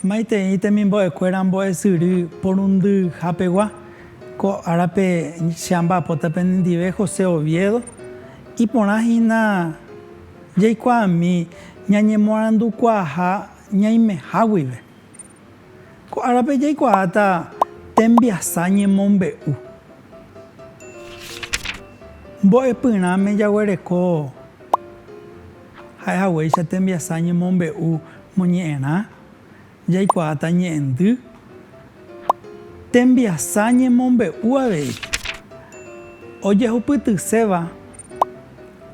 Maitei temimbo'ekuéra mbo'esyry porundyhapegua, ko árape che amba'apóta penendive José Oviedo, iporã hína. Jaikuaami ñañemoarandukuaaha ñaimeha guive. Ko árape jaikuaáta tembiasa ñemombe'u. Mbo'epyrãme jaguereko ha'ehaguéicha tembiasa ñemombe'u moñe'ẽrã Jaikuaáta ñe'ẽndy tembiasa ñemombe'u avei. Ojehupytyséva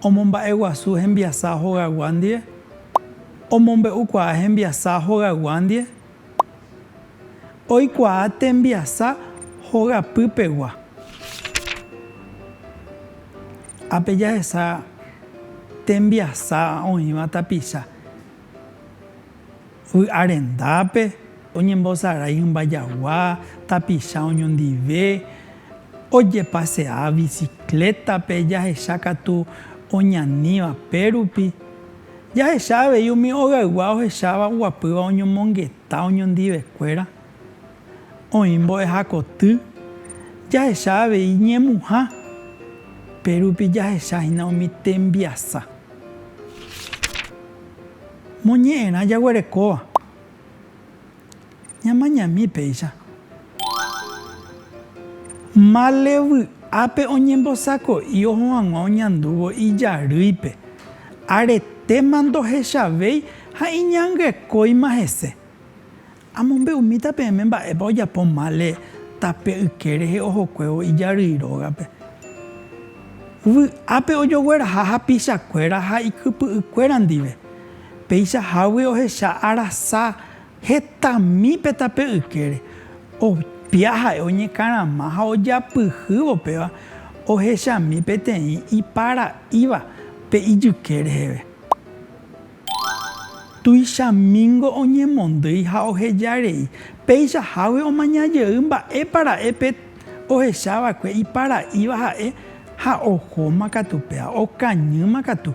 omomba'eguasu hembiasa hogagua ndive, omombe'ukuaa hembiasa hogagua ndive, oikuaa tembiasa hogapýpegua. Ápe jahesa tembiasa oĩva tapicha. Vy'a rendápe oñembosarái hymba jagua, tapicha oñondive, ojepase'a biciclétape jahecha katu oñaníva pérupi. Jahecha avei umi ogaygua ohecháva oguapýva oñomongeta oñondivekuéra. Oĩ mbo'ehakoty jahecha avei ñemuha, pe rupi jahecha hína umi tembiasa moñe'ẽrã jaguerekóva ñamañami péicha. Male vy'ápe oñembosako'i oho hag̃ua oñandúvo ijarýipe, aretéma ndohechavéi ha iñangekóima hese. Amombe'umíta peẽme mba'épa ojapo mále tape yke rehe ohokuévo ijarýi rógape. Vy'ápe ojogueraha hapichakuéra ha ikypy'ykuéra ndive. Péicha hágui ohecha arasa hetami pe tape ykére. Opia ha'e oñekarama ha ojapyhývo péva ohechami peteĩ ipara'íva pe ijyke reheve. Tuichamíngo oñemondýi ha oheja rei, péicha hágui omaña jey mba'épa ra'e pe ohecha va'ekue iparaíva ha'e ha ohóma katu péva, okañýma katu.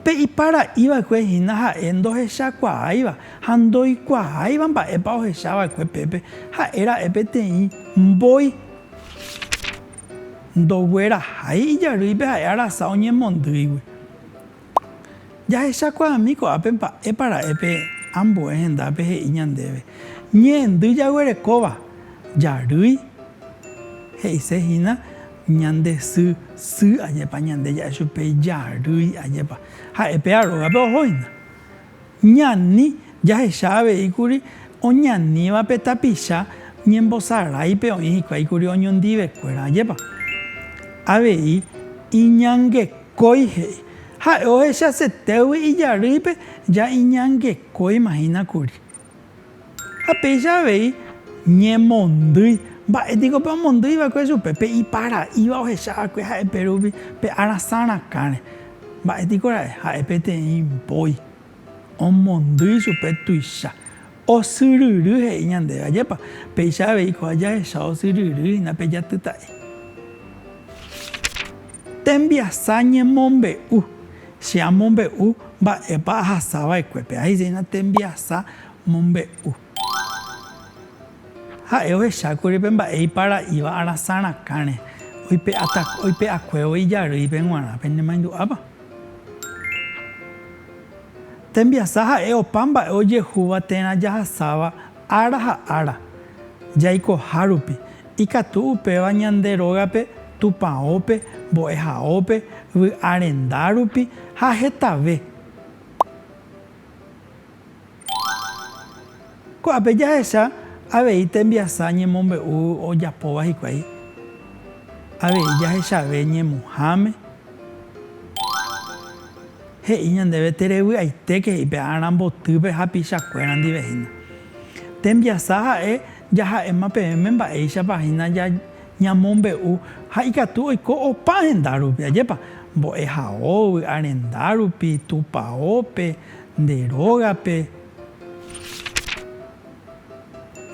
Pe iparaí va'ekue hína ha'e ndohechakuaáiva ha ndoikuaáiva mba'épa ohecha va'ekue pépe, ha'e ra'e peteĩ mbói. Ndoguerahái ijarýipe ha'e arasa oñemondýigui. Jahechakuaami ko'ápe mba'épa ra'e pe ambue hendápe he'i ñandéve, Ñe'ẽndy jaguerekóva jarýi, he'ise hína ñande sy, sy, ajépa ñande ja'e chupe jarýi, ajépa. Ha'e péva rógape oho hína. Ñani jahecha avei kuri oñaníva pe tapicha ñembosaráipe oĩ hikuái kuri oñondivekuéra. Ajépa avei iñangekói he'i. Ha'e ohechasetégui ijarýipe ja iñangekóimahína kuri. Ha péicha avei ñemondýi. Mba'e niko pe omondýi va'ekue chupe? Pe iparaíva ohecha va'ekue ha'e pe rupi pe arasã rakãre. Mba'e niko ra'e? Ha'e peteĩ mbói. Omondýi chupe tuicha. Osyryry he'i ñandéve. Ajépa? Péicha avei ko'ã jahecha osyryry hína pe jatyta'i. Tembiasa ñemombe'u. Che amombe'u mba'épa ahasa va'ekuépe. Ahechéina tembiasa mombe'u. Ha'e ohechákuri pe mba'e ipara'íva arasã rakãre, oipe'akuévo ijarýipe g̃uarã. Penemaindu'ápa? Tembiasa ha'e opa mba'e ojehúva térã jahasáva Ára ha ára, jaikohárupi, ikatu upéva ñande rógape Tupãópe, Mbo'ehaópe, Vy'arendárupi ha hetave. Ko'ápe jahecha avei tembiasa ñemombe'u ojapóva hikuái, avei jahechave ñemuháme. He'i ñandéve terevy'aitéke he'i pe ára mbotýpe hapichakuéra ndive hína. Tembiasa ha'e jaha'éma peẽme mba'éichapa hína ñamombe'u ha ikatu oiko opa henda rupi, ajépa, mbo'ehaógui, arenda rupi, tupaópe, nde rógape.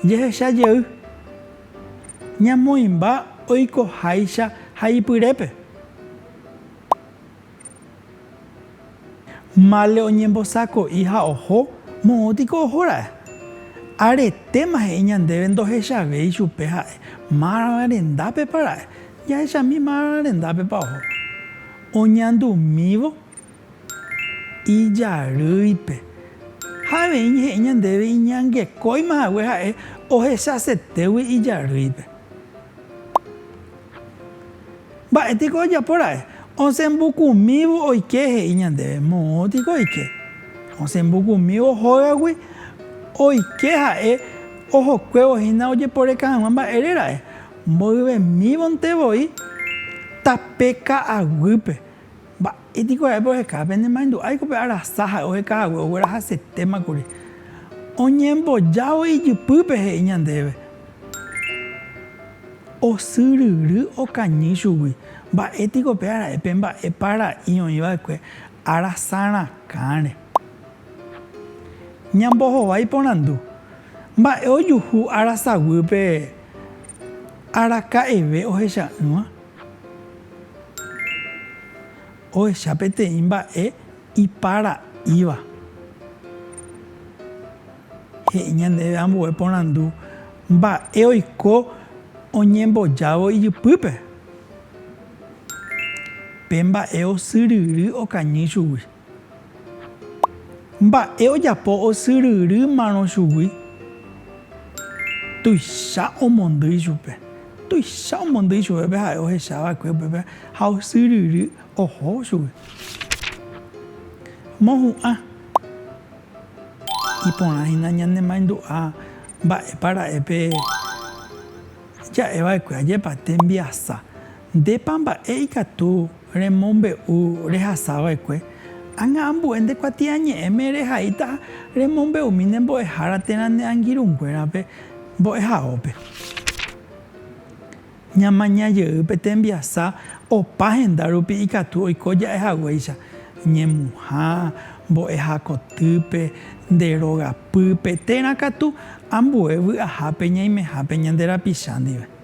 Jehecha jey, ñamoĩmba oikoháicha haipyrépe. Male oñembosako'i ha oho, moõ tiko oho ra'e. Aretéma he'i ñandéve ndohechavéi chupe ha'e márva rendápepa ra'e, jahechami márva rendápepa oho. Oñandumívo ijarýipe. Ha avei he'i ñandéve iñangekóima hague ha'e ohechasetégui ijarýipe. Mba'éteko ojapo ra'e? Osẽ mbukumívo oike, he'i ñandéve. Moõ tiko oike. Osẽ mbukumívo hógagui oike ha'e ohokuévo hína ojeporeka hag̃ua mba'ére ra'e. Mboyvemívonte voi tape ka'aguýpe. Mba'e niko ha'épe oheka? Pene maendu'áiko pe arasa ha'e oheka hague oguerahasetéma kuri. Oñembojávo ijypýpe he'i ñandéve. Osyryry okañy chugui. Mba'e tiko pe ara'e pe mba'e para'i oĩ va'ekue arasa rakãre. Ñambohova iporandu. Mba'e ojuhu arasaguýpe araka'eve ohecha'ỹva? Ohecha peteĩ mba'e ipara'ýva. He'i ñandéve ambue porandu mba'e oiko oñembojávo ijypýpe. Pe mba'e osyryry okañy chugui. Mba'e ojapo osyryrýmarõ chugui? Tuicha omondýi chupe. Tuicha omondýi chupe pe ha'e ohecha va'ekue upépe ha osyryry oho chugui. Mohu'ã. Iporã hína ñane maindu'a mba'épa ra'e pe ja'e va'ekue ajépa tembiasa. Ndépa mba'e ikatu remombe'u rehasava'ekue? Ág̃a ambue nde kuatiañe'ẽme rehaíta remombe'umi ne mbo'ehára térã ne angirũnguérape mbo'ehaópe. Ñamaña jey pe tembiasa opa henda rupi ikatu oiko ja'e haguéicha, ñemuha, mbo'eha kotýpe, nde róga pýpe, térã katu ambue vy'ahápe ñaimehápe ñande rapicha ndive.